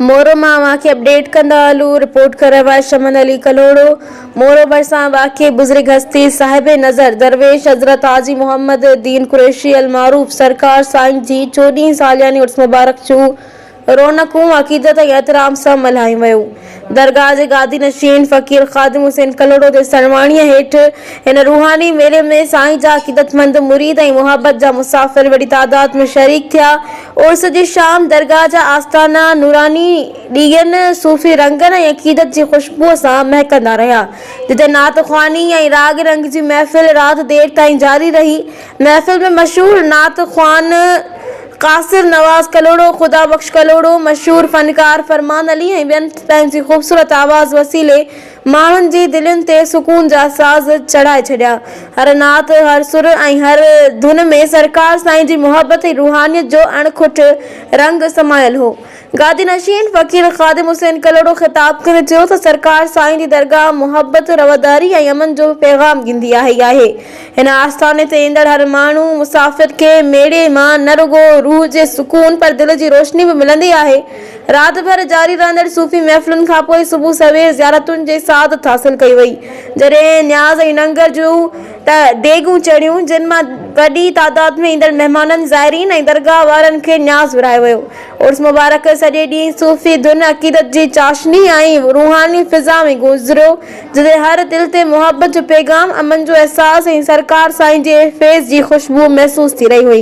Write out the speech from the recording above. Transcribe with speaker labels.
Speaker 1: مورو مان اوهان کي اپڊيٽ ڪندا هلون، رپورٽ ڪرڻ وارو آهي شمن علي ڪلهوڙو. مورو ڀرسان واقع بزرگ هستي صاحب نظر درويش حضرت حاجي محمد الدين قريشي المعروف سرڪار سائين جي چوڏهين سالياني عرس مبارڪ جون رونقون عقيدت ۽ احترام سان ملهايون ويون. درگاهه جي گادي نشين فقير خادم حسين ڪلهوڙو جي سرواڻيء هيٺ هن روحاني ميلي ۾ سائين جا عقيدتمند مريد ۽ محبت جا مسافر وڏي تعداد ۾ شريڪ ٿيا. عرس جي شام درگاهه جا آستانا نوراني ڏيئن، صوفي رنگن ۽ عقيدت جي خوشبوء سان مهڪندا رهيا. جتي نعت خواني ۽ راڳ رنگ جي محفل رات دير تائين جاري رهي. محفل ۾ مشهور نعت خوان قاصر نواز ڪلهوڙو، خدا بخش ڪلهوڙو، مشهور فنڪار فرمان علي ۽ ٻين پنهنجي خوبصورت آواز وسيلي ماڻهن جي دلين تي سڪون جا ساز چڙهائي ڇڏيا. هر نعت، هر سر ۽ هر ڌن ۾ سرڪار سائين جي محبت ۽ روحانيت جو اڻکٽ رنگ سمايل هو. گادي نشين فقير خادم حسين ڪلهوڙو خطاب ڪندي چيو ته سرڪار سائين جي درگاهه محبت، رواداري ۽ امن جو پيغام ڏيندي آهي آهي. هن آستاني تي ايندڙ هر ماڻهو، مسافر کي ميڙي مان نه رڳو روح جي سڪون پر دل جي روشني به ملندي آهي. رات ڀر جاري رهندڙ صوفي محفلن کان پوء صبح سوير زيارتن جي سعادت حاصل ڪئي وئي. جڏهن نياز ۽ ننگر جون ته ڊيگهون چڙهيون، جن مان وڏي تعداد ۾ ايندڙ مهمانن، زائرين ۽ درگاهه وارن کي نياز ورهايو ويو. عرس مبارڪ سڄي ڏينهن صوفي ڌن، عقيدت جي چاشني ۽ روحاني فضا ۾ گذريو، جتي هر دل تي محبت جو پيغام، امن جو احساس ۽ سرڪار سائين جي فيض جي خوشبوء محسوس ٿي رهي هئي.